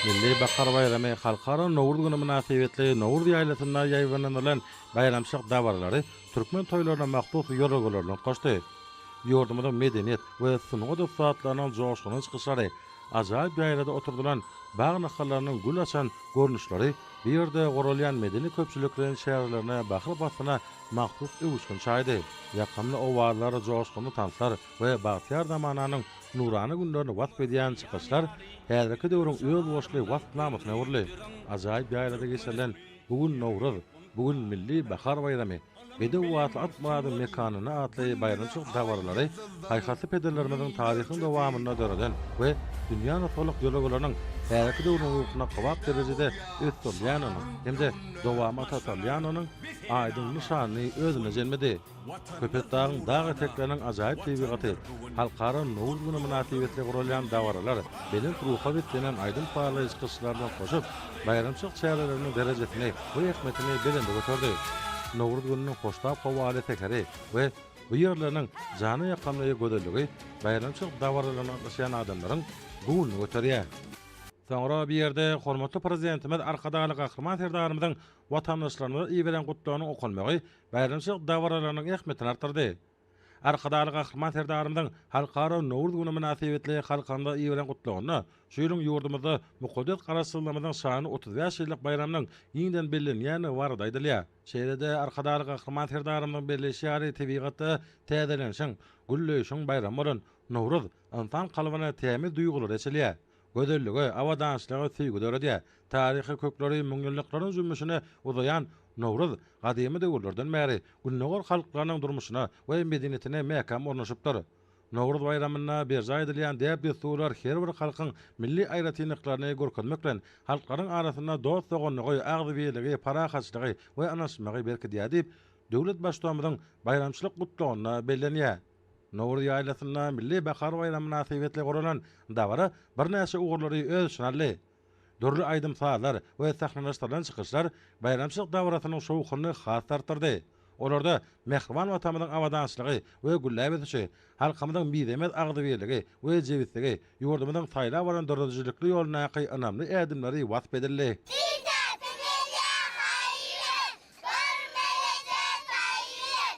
Milli bahar baýramy, Halkara Nowruz güni mynasybetli Nowruz ýaýlasynda ýaýbaňlandyrylan baýramçylyk dabaralary türkmen toýlaryna mahsus ýörelgeleri nygtaşdy. Ýurdumyzyň medeniýet we sungat ussatlarynyň joşgunly çykyşlary, ajaýyp ýaýlada oturdylan bag nahallarynyň gül açan görnüşleri bu ýerde guralýan medeni-köpçülikleýin çärelerine bahar paslyna mahsus öwüşgin çaýdy. Ýakymly owazlar, joşgunly tanslar, we bagtyýar zamananyň nurana günlerini wasp edýän çykyşlar häzirki döwrüň özboluşly wasp namysyna öwrüldi. Ajaýyp ýaýlada geçirilen Bu gün Nowruz, Bu gün milli bahar baýramy, Bedew atly at myradyň mekanynda atly baýramçylyk dabaralary paýhasly pederlerimiziň taryhyň dowamynda döreden we dünýä nusgalyk ýörelgeleriniň häzirki döwrüň ruhuna kybap derejede ösdürilýändiginiň hem-de dowamy ata salýandygynyň aýdyň nyşanyny özünde jemledi. Köpetdagyň dag etekleriniň ajaýyp tebigaty, Halkara Nowruz güni mynasybetli guralýan dabaralar, belent ruha beslenen aýdym sazlaýjy çykyşlar bilen goşup, baýramçylyk çäreleriniň derejesini we ähmiýetini belende göterdi. Nowruz gününiň hoştap howaly säheri we bu ýerleriniň jana ýakamly gözelligi baýramçylyk dabaralaryna gatnaşýan adamlaryň göwnüni göterýär. Soňra bu ýerde hormatly Prezidentimiz Arkadagly Gahryman Serdarymyzyň watandaşlarymyza iberen Gutlagynyň okalmagy baýramçylyk dabaralarynyň ähmiýetini artdyrdy. Arkadagly Gahryman Serdarymyzyň Halkara Nowruz güni mynasybetli halkymyza iberen Gutlagynda şu ýylyň ýurdumyzda mukaddes Garaşsyzlygymyzyň şanly otuz bäş ýyllyk baýramynyň giňden bellenýändigi barada aýdylýar. Şeýle-de Arkadagly Gahryman Serdarymyzyň belleýşi ýaly tebigatda täzelenişiň, gülleýşiň baýramy bolan Nowruz ynsan kalbyna tämiz duýgulary eçilýär, Gözellige, abadançylyga söýgi döredýär. Taryhy kökleri müňýyllyklaryň jümmüşine uzaýan Nowruz gadymy döwürlerden bäri Gündogar halklarynyň durmuşyna we medeniýetine mäkäm ornaşypdyr. Nowruz baýramynda berjaý edilýän däp-dessurlar her bir halkyň milli aýratynlyklaryny görkezmek bilen, halklaryň arasynda dost-doganlygy, agzybirligi, parahatçylygy we ynanyşmagy berkidýär diýip, döwlet Baştutanymyzyň baýramçylyk Gutlagynda bellenýär. Nowruz ýaýlasynda Milli bahar baýramy mynasybetli guralan dabara birnäçe ugurlary öz içine aldy. Dürli aýdym-sazlar we sahnalaşdyrylan çykyşlar baýramçylyk dabarasynyň şowhunyny has-da artdyrdy. Olarda mähriban Watanymyzyň abadançylygy we gülläp ösüşi, halkymyzyň mizemez agzybirligi we jebisligi, ýurdumyzyň saýlap alan döredijilikli ýolundaky ynamly ädimleri wasp edildi. Sisesi gelýä haýyr, görmegeje taýyr,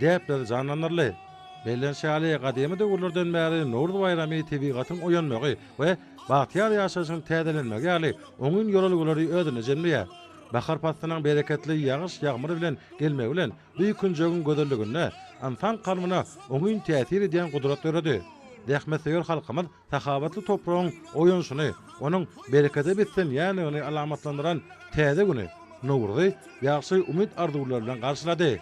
Gepler janlanarly. Bellenişi ýaly, gadymy döwürlerden bäri Nowruz baýramy tebigatyň oýanmagy we bagtyýar ýaşaýşyň täzelenmegi ýaly oňyn ýörelgeleri özünde jemleýär. Bahar paslynyň bereketli ýagyş-ýagmyr bilen gelmegi bilen bu künjegiň gözelliginde ynsan kalbyna oňyn täsir edýän gudrat döredi. Zähmetsöýer halkymyz Sahawatly topragyň oýanyşyny, onuň berekede beslenýändigini alamatlandyran täze güni, Nowruzy ýagşy umyt-arzuwlar bilen garşylady.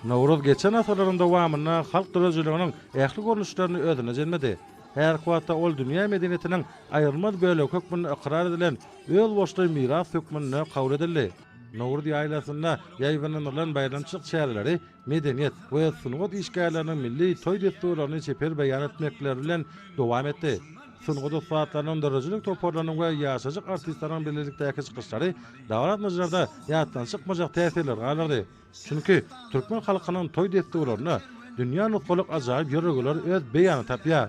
Nowruz geçen asyrlaryň dowamynda halk döredijiliginiň ähli görnüşlerini özüne jemledi. Häzirki wagtda ol dünýä medeniýetiniň aýrylmaz bölegi hökmünde ykrar edilen özboluşly miras hökmünde kabul edildi. Nowruz ýaýlasynda ýaýbaňlandyrylan baýramçylyk çäreleri medeniýet we sungat işgärleriniň milli toý dessurlaryny çeper beýan etmekleri bilen dowam etdi. Sungat ussatlarynyň, döredijilik toparlarynyň we ýaşajyk artistleriniň birlelikdäki çykyşlary dabaralmajylarda ýatdan çykmajak täsirleri galdyrdy. Çünki türkmen halkynyň toý dessurlarynda dünýä nusgalyk ajaýyp ýörelgeler öz beýanyny tapýar.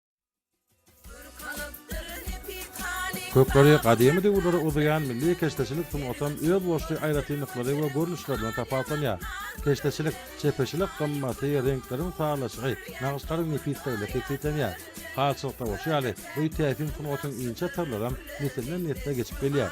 Kökleri gadymy döwürlere uzaýan milli keşdeçilik sungatam öz boşly aýratynlyklary we görnüşleri bilen tapawutlanýar. Keşdeçilik, çepeçilik gymmaty, reňkleriň sazlaşygy, nagyşlaryň nepisliginde kesgitlenýär. Halçylykda bolşy ýaly, bu täsin sungatyň inçe syrlaram nesilden-nesle geçip gelýär.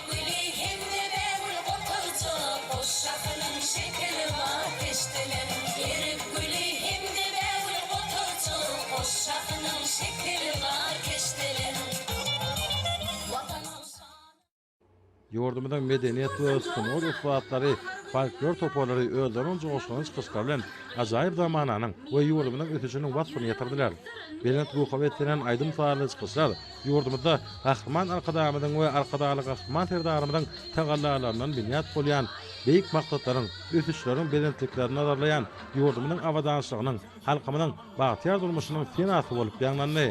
Güli hemme bägül goturja, Boş şahynyň şekili bar peşdelen. Erik güli hemme bägül goturja, Boş şahynyň şekili bar peşdelen. Watanymyň şany. Ýurdumyzyň medeniýet we sungat ussatlary, folklor toparlary özleriniň joşgunly çykyşlary bilen ajaýyp zamananyň we ýurdumyzyň ösüşiniň waspyny ýetirdiler. Belent ruha beslenen aýdym-sazly çykyşlar Ýurdumyzda Gahryman Arkadagymyzyň we Arkadagly Gahryman Serdarymyzyň tagallalaryndan binýat bolýan beýik maksatlaryň, ösüşleriň belentliklerini nazarlaýan ýurdumyzyň abadançylygynyň, halkymyzyň bagtyýar durmuşynyň senasy bolup ýaňlandy.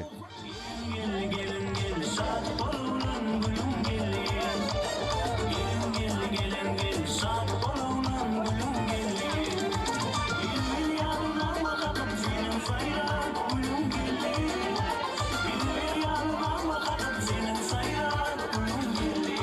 Seniň saýran gülüň belli, Bilmeli ýalynama kadam Seniň saýran gülüň belli.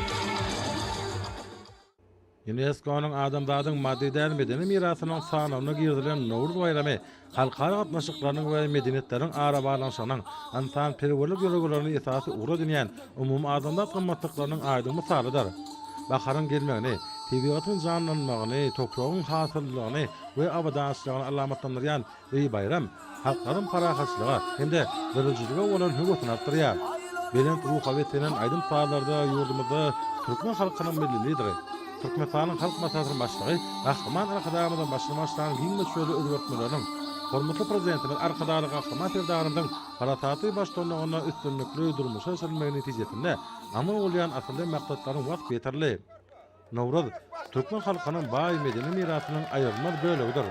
Ýunesko-nyň Adamzadyň maddy däl medeni mirasynyň sanawyna girizilen Nowruz baýramy halkara gatnaşyklarynyň we medeniýetleriň arabaglanyşygynyň, ynsanperwerlik ýörelgelerini esasy ugur edinýän umumy adandat gymmatlyklarynyň aýdyň mysalydyr. Baharyň gelmegini, tebigatyň janlanmagyny, topragyň hasyllylygyny we abadançylygyny alamatlandyrýan beýi baýram halklaryň parahatçylyga hem-de döredijilige bolan höwesini artdyrýar. Belent ruha beslenen aýdym-sazlarda ýurdumyzda türkmen halkynyň Milli Lideri, Türkmenistanyň Halk Maslahatynyň Başlygy Gahryman Arkadagymyzyň başyny başlan giň möçberli özgertmeleriniň, hormatly Prezidentimiz Arkadagly Gahryman Serdarymyzyň Parasaty baştutanlygynda üstünlikli durmuşa geçirilmegi netijesinde amal bolýan asylly maksatlaryň waspy ýetirli. Nowruz, türkmen halkynyň baý medeni mirasynyň aýrylmaz bölegidir.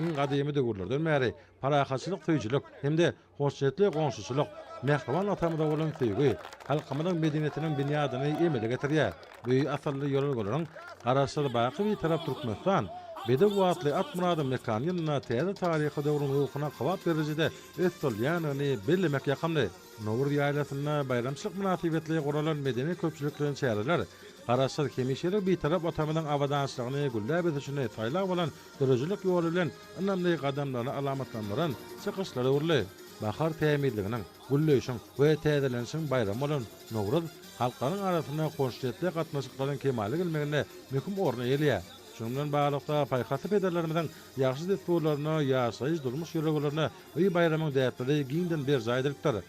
Iň gadymy döwürlerden bäri parahatçylyk söýüjilik hem-de hoşniýetli goňşuçylyk, mähriban Atamyza bolan söýgi halkymyzyň medeniýetiniň binýadyny emele getirýär. Bu asylly ýörelgeleriň Garaşsyz, baky Bitarap Türkmenistan, Bedew atly Atmyradyň mekany ýylynda täze taryhy döwrüň ruhuna kybap berliji-de Öt solýanyny bellemek ýakymly. Nowruz ýaýlasynda baýramçylyk mynasybetli guralan medeni-köpçülikleýin çäreler Garaşsyz, hemişelik Bitarap Watanymyzyň abadançylygyny, gülläp ösüşini saýlag bolan döredijilik ýoly bilen ynamly gadamlaryny alamatlandyran çykyşlara öwrüldi. Bahar tämizliginiň, gülleýşiň we täzelenişiň baýramy bolan Nowruz halklaryň arasynda hoşniýetli gatnaşyklaryň kemala gelmeginde möhüm orun eýeleýär. Şunuň bilen baglylykda, paýhasly pederlerimiziň ýagşy dessurlaryna, ýaşaýyş-durmuş ýörelgelerine öý baýramyň däpleri giňden berjaý edilipdir.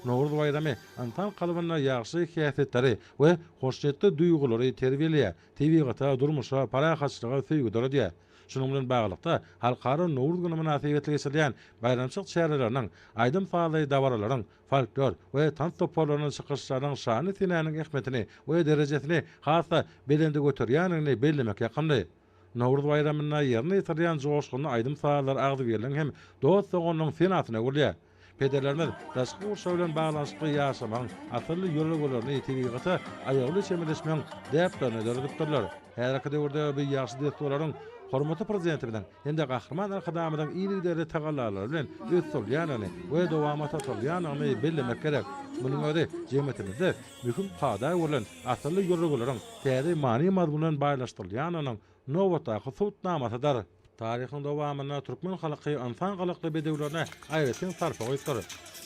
Nowruz baýramy ynsan kalbynda ýagşy häsiýetleri we hoşniýetli duýgulary terbiýeleýär, tebigata, durmuşa, parahatçylyga söýgi döredýär. Şunuň bilen baglylykda, Halkara Nowruz güni mynasybetli geçirilýän baýramçylyk çäreleriniň, aýdym-sazly dabaralaryň, folklor we tans toparlarynyň çykyşlarynyň şany senäniň ähmiýetini we derejesini has-da belende göterýändigini bellemek ýakymly. Nowruz baýramynda ýerine ýetirilýän joşgunly aýdym-sazlar agzybirligiň hem dost-doganlygyň senasyna gurulýar. Pederlerimiz daşky gurşaw bilen baglanyşykly ýaşamagyň asylly ýörelgelerini, tebigata aýawly çemeleşmegiň däplerini döredipdirler. Häzirki döwürde bu ýagşy dessurlaryň hormatly Prezidentimiziň hem-de Gahryman Arkadagymyzyň yzygiderli tagallalary bilen ösdürilýändigini we dowamata sarylýandygyny bellemek gerek. Munuň özi jemgyýetimizde möhüm kada görlen asylly ýörelgeleriň täze many-mazmun bilen baýlaşdyrylýanynyň nobatdaky subutnamasydyr. Taryhyň dowamynda türkmen halky ynsan gylykly bedewlerine aýratyn sarpa goýupdyr.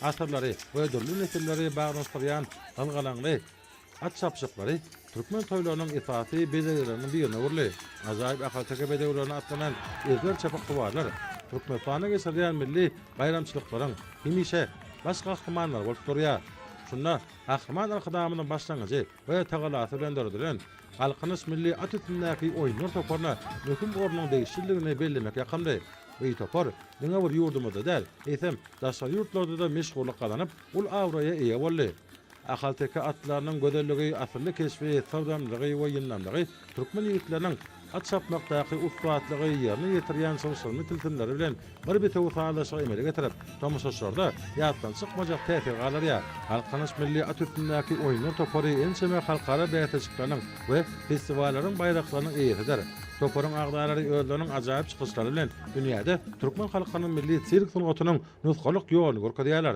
Asyrlary we dürli nesilleri baglanyşdyrýan gylgalaňly at çapyşyklary türkmen toýlarynyň esasy bezegleriniň birine öwrüldi. Ajaýyp ahalteke bedewlerine atlanan ezber çapyksuwarlar Türkmenistanda geçirilýän milli baýramçylyklaryň hemişe baş gahrymanlary bolup durýar. Şunda. Gahryman Arkadagymyzyň başlangyjy we tagalasy bilen döredilen Galkynyş milli at üstündäki oýunlar toparyna möhüm ornuň degişlidigini bellemek ýakymly. Bu topar diňe bir ýurdumyzda däl, eýsem, daşary ýurtlarda-da meşhurlyk gazanyp, uly abraýa eýe boldy. Ahalteke atlarynyň gözelligi, asylly keşbi, syrdamlygy we ýyndamlygy türkmen ýigitleriniň At çapmakdaky ussatlygy, ýerine ýetirýän çylşyrymly tilsimleri bilen bir bitewi sazlaşygy emele getirip, tomaşaçylarda ýatdan çykmajak täsir galdyrýar. Halk Tanyş milli at üstündäki oýunlar topary ençeme halkara bäsleşikleriniň we festiwallaryň baýraklarynyň eýesidir. Toparyň agzalary özleriniň ajaýyp çykyşlary bilen dünýäde türkmen halkynyň milli sirk sungatynyň nusgalyk ýoluny görkezýärler.